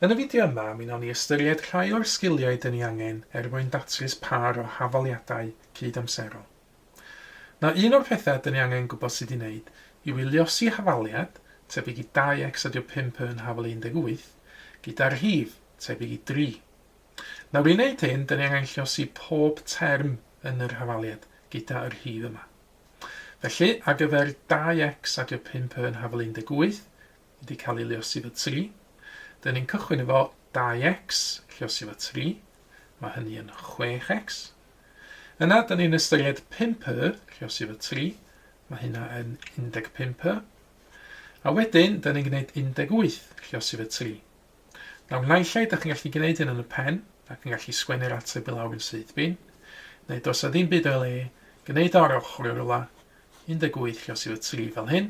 Yn y fideo yma, mi wnawn ni ystyried rhai o'r sgiliau dyn ni angen er mwyn datrys pâr o hafaliadau cyd-amserol. Nawr, un o'r pethau dyn ni angen gwybod sut i wneud yw i luosi hafaliad, tebyg i 2x ydyw 5 yn hafal 18, gyda rhif, tebyg i 3. Nawr, i wneud hyn, dyn ni angen lluosi pob term yn yr hafaliad, gyda y rhif yma. Felly, ar gyfer 2x ydyw 5 yn hafal 18, wedi cael ei lluosi fy tri. Dyn ni'n cychwyn efo 2x, lluosi fy tri. Mae hynny yn 6x. Yna, dyn ni'n ystyried 5y, lluosi fy tri. Mae hynna yn 15y. A wedyn, dyn ni'n gwneud 18, lluosi fy tri. Nawr, naill ai, da chi'n gallu gwneud hyn yn y pen, ac yn gallu sgwennu'r ateb i lawr yn syth bin, neu dos a ddim byd o'i le, gwneud o'r ochr o'r rwla, 18 lluosi fy tri fel hyn,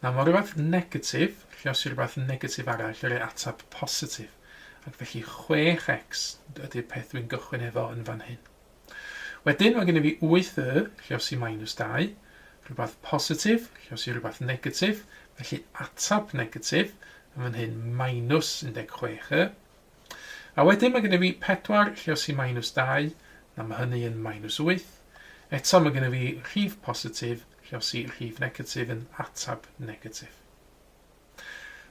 Nawr, mae rhywbeth negatif, lluosi rhywbeth negatif arall i roi ateb positif, ac felly 6x ydy'r peth dwi'n gychwyn efo yn fan hyn. Wedyn, mae gen i fi 8y, lluosi minus 2, rhywbeth positif, lluosi rhywbeth negatif, felly ateb negatif, yn fan hyn minus 16y. A wedyn mae gen i fi 4 lluosi minus 2, na mae hynny yn minus 8. Eto mae gen i fi rhif positif, Rhosi rhif negatif yn ateb negatif.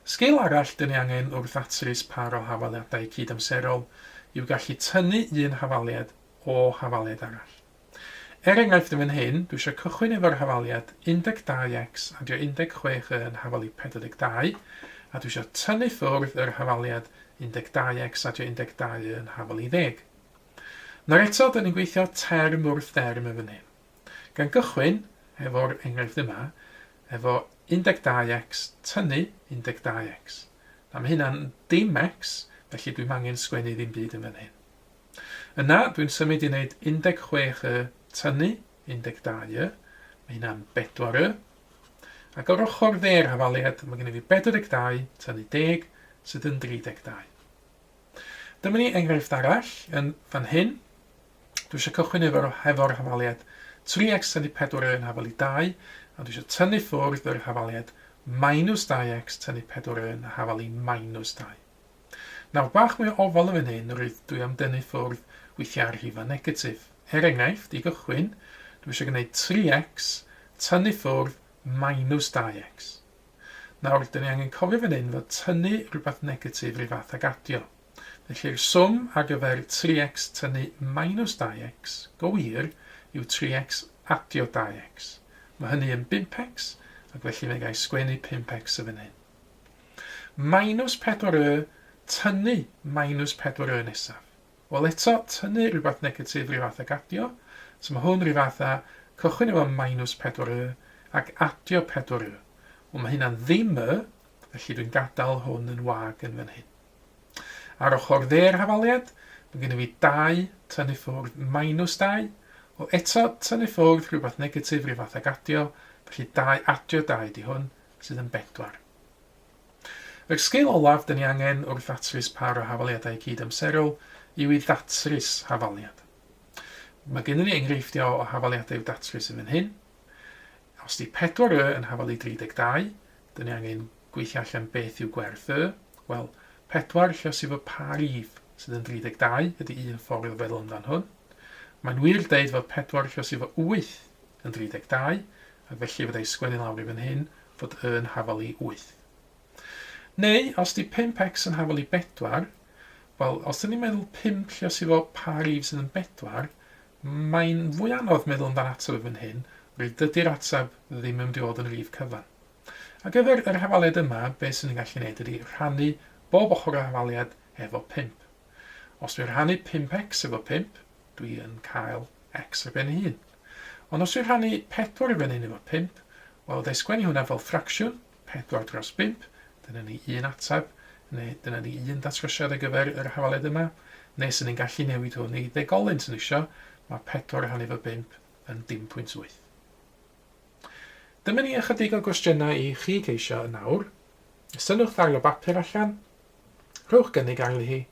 Sgil arall dyn ni angen wrth ddatrys pâr o hafaliadau cydamserol yw gallu tynnu un hafaliad o hafaliad arall. Er enghraifft yn fan hyn, dwi eisiau cychwyn efo'r hafaliad 12X a dio 16 Y yn hafali 42, a dwi eisiau tynnu ffwrdd yr hafaliad 12X a dio 12 Y yn hafali 10. Nawr eto, dyn ni'n gweithio term wrth derm yn fan hyn. Gan gychwyn efo'r enghraifft yma, efo 12x, tynnu 12x. Na, mae hynna'n dim x, felly dwi'm angen sgwennu ddim byd yn fan hyn. Yna, dwi'n symud i wneud 16y tynnu 12y, mae hynna'n 4y. Ac o'r ochr dde'r hafaliad, mae gen i fi 42 tynnu 10, sydd yn 32. Dyma ni enghraifft arall yn fan hyn. Dwi eisiau cychwyn efo, hefo'r hafaliad 3x tynnu 4 yn hafal i 2, a dwi eisiau tynnu ffwrdd yr hafaliad minus 2x tynnu 4 yn hafal i minus 2. Nawr, bach mwy o ofal yn fan hyn, rwyt dwi am dynnu ffwrdd weithiau ar rhifau negatif. Er enghraifft, i gychwyn, dwi eisiau gwneud 3x tynnu ffwrdd minus 2x. Nawr, dyn ni angen cofio fan hyn fod tynnu rhywbeth negatif rhyw fath ag adio. Felly'r swm ar gyfer 3x tynnu minus 2x, go wir, yw 3x adio 2x. Mae hynny yn 5x, ac felly fe gai sgwennu 5x yn fan hyn. Minus 4y tynnu minus 4y nesaf. Wel eto, tynnu rhywbeth negatif rhyw fath ag adio, so mae hwn rhyw fath a cychwyn efo minus 4y ac adio 4y. Wel mae hynna'n ddim y, felly dwi'n gadael hwn yn wag yn fan hyn. Ar ochr dde'r hafaliad, mae gennyf fi dau tynnu ffwrdd minus dau, o eto, tynnu ffwrdd rhywbeth negatif rhyw fath ag adio, felly dau adio dau ydi hwn, sydd yn bedwar. Yr sgil olaf dyn ni angen wrth ddatrys par o hafaliadau cyd-amserol yw i ddatrys hafaliad. Mae gennym ni enghreifftiau o hafaliadau i'w datrys yn fan hyn. Os di 4y yn hafalu 32, Dyn ni angen gweithio allan beth yw gwerth y, wel, pedwar lle sydd fod pa rif sydd yn 32 ydy un ffordd o feddwl amdan hwn. Mae'n wir deud fod pedwar lle sydd fod 8 yn 32, ac felly fydda i sgwennu lawr i fan hyn fod y yn hafal i 8. Neu, os di 5x yn hafal i 4, wel, os dyn ni'n meddwl 5 lle sydd fod pa rif sydd yn 4, Mae'n fwy anodd meddwl amdan ateb yn fan hyn, oherwydd dydy'r ateb ddim yn mynd i fod yn rif cyfan. Ar gyfer yr hafaliad yma, be sy'n ni'n gallu neud ydy rhannu bob ochr o hafaliad efo 5. Os dwi'n rhannu 5x efo 5, dwi yn cael x ar ben ei hun. Ond os dwi'n rhannu 4 i fyny'n efo 5, wel, wna i sgwennu hwnna fel ffracsiwn, Pedwar dros bump, dyna ni un ateb, neu dyna ni un datrysiad ar gyfer yr hafaled yma, neu 'sen ni'n gallu newid hwn i ddegolyn 'sen ni isio, mae pedwar rhannu efo bump yn dim pwynt wyth. Dyma ni ychydig o gwestiynau i chi geisio yn awr. Synnwch ddail o bapur allan, rhowch gynnig arni hi,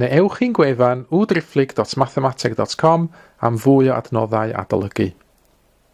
Neu ewch i'n gwefan www.driphlyg.mathemateg.com am fwy o adnoddau adolygu.